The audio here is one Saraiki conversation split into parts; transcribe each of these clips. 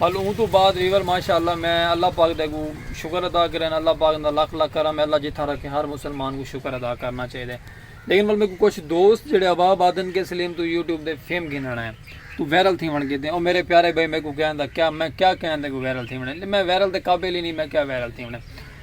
ہل اوں توں بعد ریور ماشاء اللہ میں اللہ پاک دے اگوں شکر ادا کرین اللہ پاک دا لکھ لکھ کرم ہے اللہ جتھاں رکھے ہر مسلمان کو شکر ادا کرنا چاہیے لیکن مل میکو کچھ دوست جڑے ابا بادن کے سلیم تو یوٹیوب دے فیم گھننا ہے تو ویرل تھی ون کیتے او میرے پیارے بھائی میکو کہن دا کیا میں کیا کہن دے کو ویرل تھی ون میں ویرل دے قابل ہی نہیں میں کیا ویرل تھی ون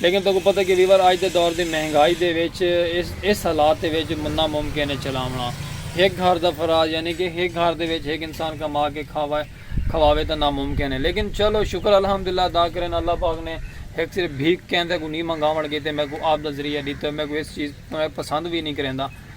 لیکن تہاکوں پتہ کہ ویور اج دے دور دی مہنگائی دے وچ اس حالات دے وچ ناممکن ہے چلاوݨا۔ ہک گھر دا فراز یعنی کہ ہک گھر دے وچ ہک انسان کما کے کھاوے تاں ناممکن ہے لیکن چلو شکر الحمداللہ ادا کرن اللہ پاک نے ہک صرف بھیک کیندے کوں نی منگاوݨ کیتے میکوں آپ دا ذریعہ ݙیتو میکوں اس چیز توں پسند وی نی کریندا۔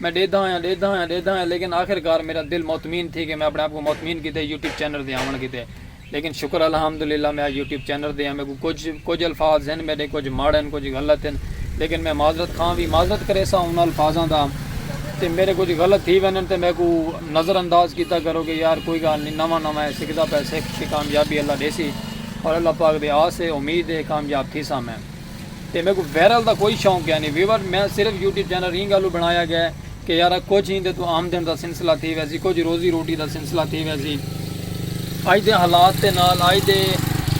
میں ڈیدھا ہویاں ڈیدھا ہویاں ڈیدھا ہویاں لیکن آخر کار میڈا دل مطمین تھی گئے میں اپنے آپ کوں مطمین کیتے یوٹیوب چینل دے آون کیتے لیکن شکر الحمدللہ میں اج یوٹیوب چینل دے ہاں میکوں کچھ کچھ الفاظ ہن میڈے کچھ ماڑے ہن کچھ غلط ہن لیکن میں معذرت خواں وی معذرت کریسا انہاں الفاظاں دا تے میڈے کچھ غلط تھی ویندن تے میکوں نظر انداز کیتا کرو کہ یار کوئی گال نی نواں نواں ہے سکھدا پیا سکھ تے کامیابی اللہ ڈیسی اور اللہ پاک دی آس ہے امید ہے کامیاب تھیساں میں۔ تے میکوں ویرل دا کوئی شوق کینی ویور میں صرف یوٹیوب چینل ایں گالوں بنایا گئے کہ یارا کچھ ایں دے توں آمدن دا سلسلہ تھی ویسی کچھ روزی روٹی دا سلسلہ تھی ویسی اج دے حالات دے نال اج دے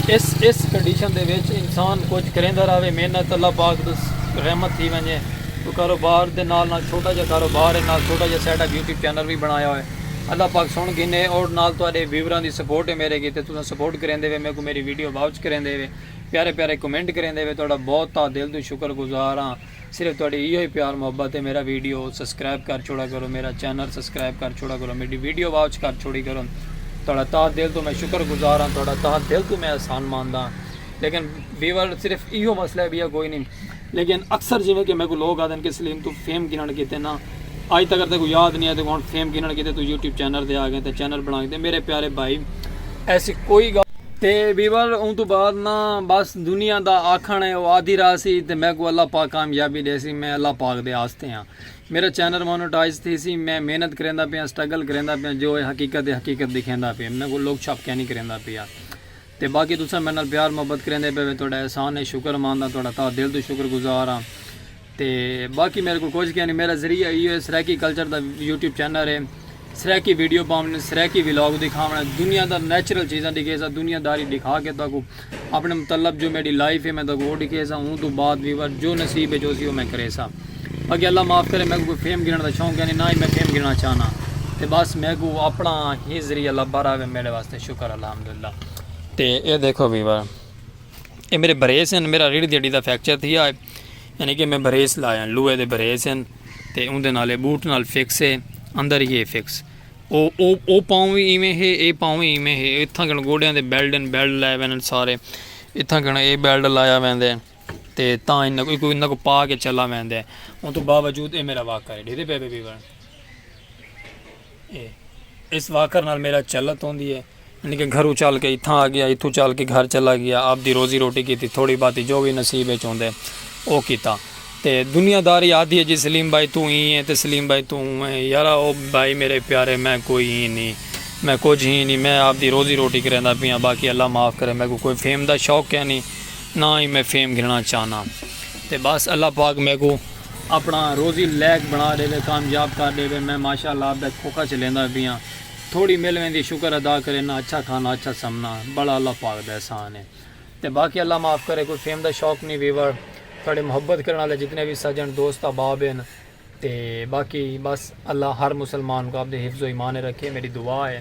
اس اس کنڈیشن دے وچ انسان کچھ کریندہ راوے محنت اللہ پاک دا رحمت تھی ونجے تو کاروبار دے نال نال چھوٹا جا کاروبار ہے نال چھوٹا جا سیٹ اپ یوٹیوب چینل بھی بنایا ہوئے اللہ پاک سن گھنے اور نال تو اڈے ویوراں دی سپورٹ ہے میرے کی تے تو سپورٹ کریندے وے میکوں میری ویڈیو واچ کریندے وے پیارے پیارے کمنٹ کریندے وے تہاڈا بہت تہہ دل توں شکر گزار ہاں صرف تہاڈی ایہو ہی پیار محبت ہے میرا ویڈیو سبسکرائب کر چھوڑا کرو میرا چینل سبسکرائب کر چھوڑا کرو میڈی ویڈیو واچ کر چھوڑی کرو تہاڈا تہہ دل توں میں شکر گزار ہاں تہاڈا تہہ دل توں میں احسان ماندا لیکن ویور صرف ایہو مسئلہ ہے بیا کوئی نہیں لیکن اکثر جیویں کہ میکوں لوگ آہدن کہ سلیم توں فیم گھنݨ کیتے نہ آئی تاں اگر تیکوں یاد نی آئے تیکوں ہݨ فیم گھنݨ کیتے توں یوٹیوب چینل تے آ ڳئیں تاں چینل بݨا کیتے میݙے پیارے بھائی ایسی کوئی ڳالھ تے ویور اوں توں بعد نہ بس دنیا دا آکھݨ ہے او آدھی راہ سی تے میکوں اللہ پاک کامیابی ݙیسی میں اللہ پاک دے آستے ہاں میݙا چینل مونیٹائز تھیسی میں محنت کریندا پیاں سٹرگل کریندا پیاں جو ہے حقیقت ہے حقیقت ݙکھیندا پیاں میکوں لوک چھپ کینی کریندا پیا۔ تے باقی تساں میڈے نال پیار محبت کریندے پے وے تہاڈا احسان ہے شکر مند ہاں تہاڈا تہہ دل توں شکر گزار ہاں تے باقی میڈے کول کجھ کینی میڈا ذریعہ ایہو ہے سرائیکی کلچر دا یوٹیوب چینل ہے سرائیکی ویڈیو پاونڑ سرائیکی ولاگ دکھاونڑ دنیا دا نیچرل چیزاں دکھیساں دنیا داری دکھا کے تہاکو اپنے متعلق جو میڈی لائف ہے میں تہاکو او دکھیساں اوں توں بعد ویور جو نصیب اچ ہوسی او میں کریساں باقی اللہ معاف کرے میکو کوئی فیم گھنڑ دا شوق کینی نہ ہی میں فیم گھنڑا چاہناں تے بس میکو اپنا ہی ذریعہ لبھا رہوے میڈے واسطے شکر الحمدللہ تے اے دیکھو ویور اے میرے بریس ہیں میرا ریڑھ دیڑی دا فیکچر تھی آئے یعنی کہ میں بریس لائے لوہے دے بریس ہیں تے اون دے نالے بوٹ نال فکس ہے اندر ہی ہے فکس او او او پاؤں بھی ایویں ہے اے پاؤں بھی ایویں ہے اتھاں گن گوڑیاں دے بیلڈ ہیں بیلڈ لائے وین سارے اتھاں گن اے بیلڈ لایا وین دے تے تاں انہاں کوئی کوئی انہاں کو پا کے چلا وین دے ان تو باوجود اے میرا واقعہ ہے ڈھیرے پہ بے بے بے اس واکر نال میرا چلت ہوندی ہے۔ یعنی کہ گھروں چل کے اتھاں آ گیا، اتھوں چل کے گھر چلا گیا، آپ دی روزی روٹی کیتی، تھوڑی باتی جو وی نصیب اچ ہوندے او کیتا۔ تے دنیا داری آدھی ہے جی سلیم بھائی توں ایں ہیں تے سلیم بھائی توں اوں ہیں، یارا او بھائی میرے پیارے میں کوئی ہیں نی، میں کجھ ہیں نی، میں آپ دی روزی روٹی کریندا پیاں، باقی اللہ معاف کرے میکوں کوئی فیم دا شوق کینی، نہ ہی میں فیم گھننا چاہناں۔ تے بس اللہ پاک میکوں اپنا روزی لیک بنا ڈیوے کامیاب کر ڈیوے میں ماشاء اللہ آپ دا کھوکھا چلیندا پیاں تھوڑی مل ویندی شکر ادا کرینا اچھا کھانا اچھا سمنا بڑا اللہ پاک دا احسان ہے تے باقی اللہ معاف کرے کوئی فیم دا شوق نی ویور تھوڑے محبت کرن والے جتنے وی سجن دوست احباب ہن تے باقی بس اللہ ہر مسلمان کو آپ دے حفظ و ایمان رکھے میڈی دعا ہے۔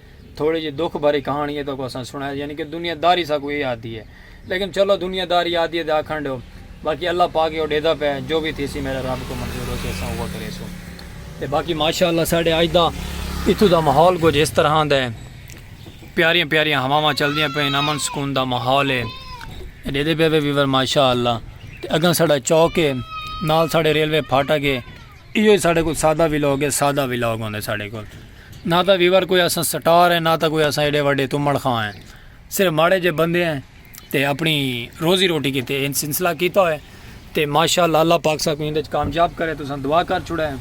تھوڑی جی دکھ بھری کہاݨی ہے تہاکوں اساں سݨائے یعنی کہ دنیا داری ساکوں ایہ آہدی ہے لیکن چلو دنیا داری آہدی ہے تاں آکھݨ ݙیو باقی اللہ پاک ایہو ݙیہدا پئے جو وی تھیسی میݙے رب کوں منظور ہوسی اساں اوہا کریسوں تے باقی ماشاء اللہ ساݙے اڄ دا اتھوں دا ماحول کجھ اس طرحاں دا ہے پیاریاں پیاریاں ہواواں چلدیاں پئین امن سکون دا ماحول ہے ݙیہدے پئے وے ویور ماشاء اللہ تے اڳاں ساݙا چوک ہے نال ساݙے ریلوے پھاٹک ہے ایہو ساݙے کول سادہ ولاگ ہے سادہ ولاگ ہوندے ساݙے کول نہ تاں ویور کوئی اساں سٹار ہیں نہ تاں کوئی اساں ایڈے وڈے تمڑ خاں ہیں صرف ماڑے جے بندے ہیں تے اپنی روزی روٹی کیتے ان سلسلہ کیتا ہوئے تے ماشاءاللہ اللہ پاک ساکو اندے چ کامیاب کرے تو سن دعا کر چھڑے ہیں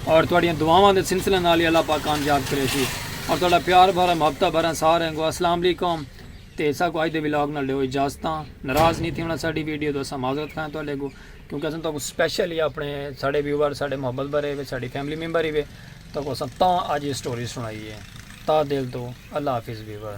اور تواڈیاں دعاواں دے سلسلے نال ہی اللہ پاک کامیاب کرے سی اور تہاڈا پیار بھرا محبتہ بھرا سارے گو السلام علیکم تے ساکو اج دے ولاگ نال دیو اجازتاں ناراض نہیں تھی ہونا ساڈی ویڈیو تو اساں معذرت خواہ ہیں تہاڈے گو کیونکہ اساں تہاکوں سپیشل یا اپنے ساڈے ویوئر ساڈے محبت بھرے ہوئے ساڈی فیملی ممبر ہی ہوئے تہاکوں اساں تاں اج ایہ سٹوری سنائی ہے تہہ دل توں اللہ حافظ ویوئر۔